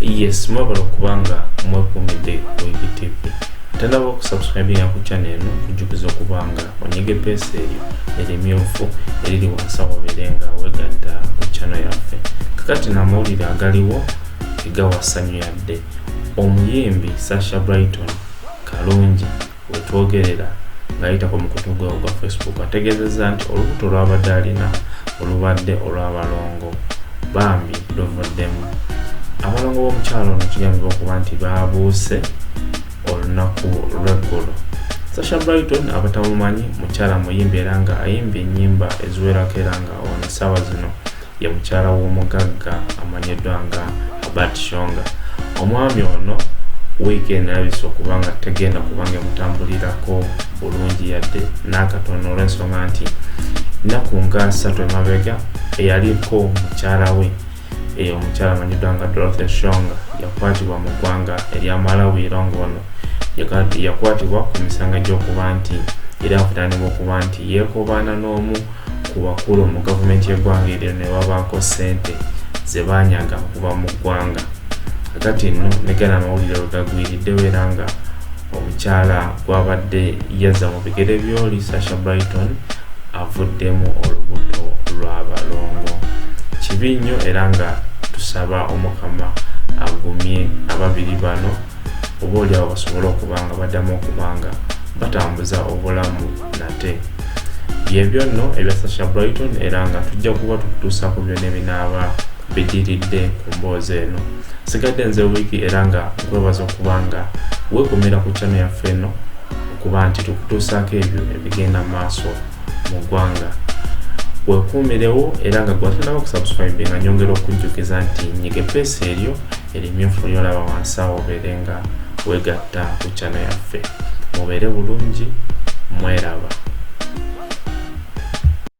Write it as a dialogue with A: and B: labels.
A: yes mwebale okubanga mwekumidde ku igtv atalaba okusubscribinga ku chana eno kujjukiza okubanga onyege peesa eryo erimyufu eriri wansi awobeere nga wegatta ku chana yaffe kakati namawulire agaliwo egawasanyu yadde omuyimbi sasha brighton kalungi wetwogerera ng'ayitako mu kutu gwe ogwa facebook ategeezezza nti olubuto lwabadde alina olubadde olw'abalongo bambi luvuddemu abalongo b'omukyalo ono kigambibwa okuba nti baabuuse olunaku lweggulo sasha brighton abatamumanyi mukyala muyimbi era nga ayimba ennyimba eziwerako era nga ono essaawa zino ye mukyala w'omugagga amanyiddwa nga Albert Shonga. Omwami ono wiiki eno erabise okuba nga tegenda kuba nga emutambulirako bulungi yadde n'akatono olw'ensonga nti nnaku nga ssatu emabega eyaliko mukyala we eyo omukyala amanyiddwa nga Dorothy Shonga yakwatibwa mu ggwanga erya Malawi era ng'ono yakwatibwa ku misango gy'okuba nti era avunaanibwa okuba nti yeekobaana n'omu ku bakulu mu gavumenti y'eggwanga eryo ne babaako ssente ze baanyaga okuva mu ggwanga kakati nno ne gana amawulire we gagwiriddewo era nga omukyala gwabadde yazza mu bigere byoli sasha brighton avuddemu olubuto lwa balongo kibi nnyo era nga tusaba omukama agumye ababiri bano oba oliawo basobole okuba nga baddamu okuba nga batambuza obulamu nate byebyo nno ebya sasha brighton era nga tujja kuba tukutuusa ku byona ebinaaba bidiridde ku mboozi eno sigadde nze wiiki era nga nkwebaza okuba nga wekumira ku chano yaffe eno okuba nti tukutuusaako ebyo ebigenda maaso mu ggwanga wekuumirewo era nga gwatanaba okusubscribe nga nyongera okujjukiza nti nyige peesi eryo erimyufu lyolaba wansi awo obeere nga wegatta ku channel yaffe mubeere bulungi mweraba